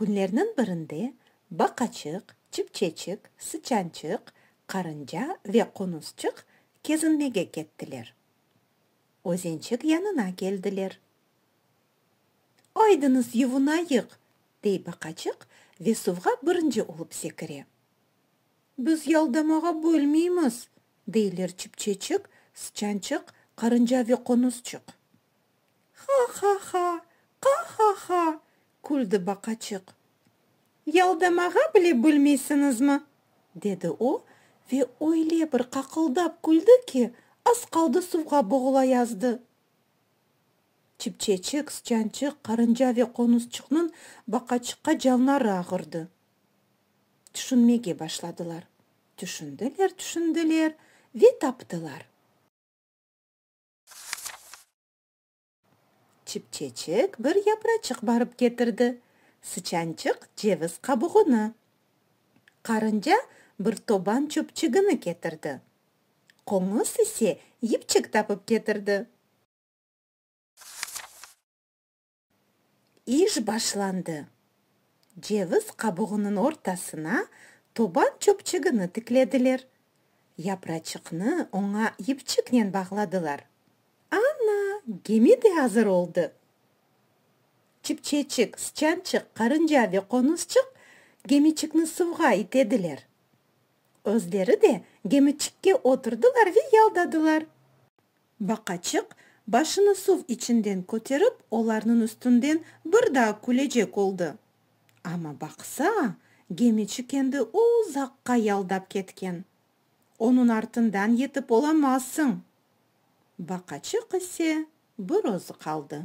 Künlerniñ birinde baqaçıq, çipçeçik, sıçançıq, qarınca ve qonusçıq kezinmege kettiler. Özençik yanına keldiler. Aydıñız yuvunayıq! dey baqaçıq ve suvğa birinci olıp sekire. Biz yaldamağa bilmeymiz! deyler çipçeçik, sıçançıq, qarınca ve qonusçıq. Ha-ha-ha! Qa-ha-ha! küldi baqaçıq. Yaldamağa bile bilmeysiñizmi? dedi o ve öyle bir qaqıldap küldi ki, az qaldı suvğa boğulayazdı. Çipçeçik, sıçançıq, qarınca ve qonusçıqnıñ baqaçıqqa canları ağırdı. Tüşünmege başladılar. Tüşündiler, tüşündiler ve taptılar. Çipçeçik bir yapraçıq barıp ketirdi, sıçançıq ceviz qabuğını, qarınca bir toban çöpçigini ketirdi, qoñuz ise yipçik tapıp ketirdi. İş başlandı. Ceviz qabuğınıñ ortasına toban çöpçügini tiklediler. Yapraçıqnı oña yipçiknen bağladılar. Ana, gemi de azır oldı! Çipçeçik, sıçançıq, qarınca ve qonuzçıq gemiçikni suvğa itediler. Özleri de gemiçikke oturdılar ve yaldadılar. Baqaçıq, başını suv içinden köterip, olarnıñ üstünden bir daa külecek oldı. Amma baqsa, gemiçi kendi uzaqqa yaldap ketken. Onıñ artından yetip olamazsıñ. Baqaçıq ise bir özü qaldı.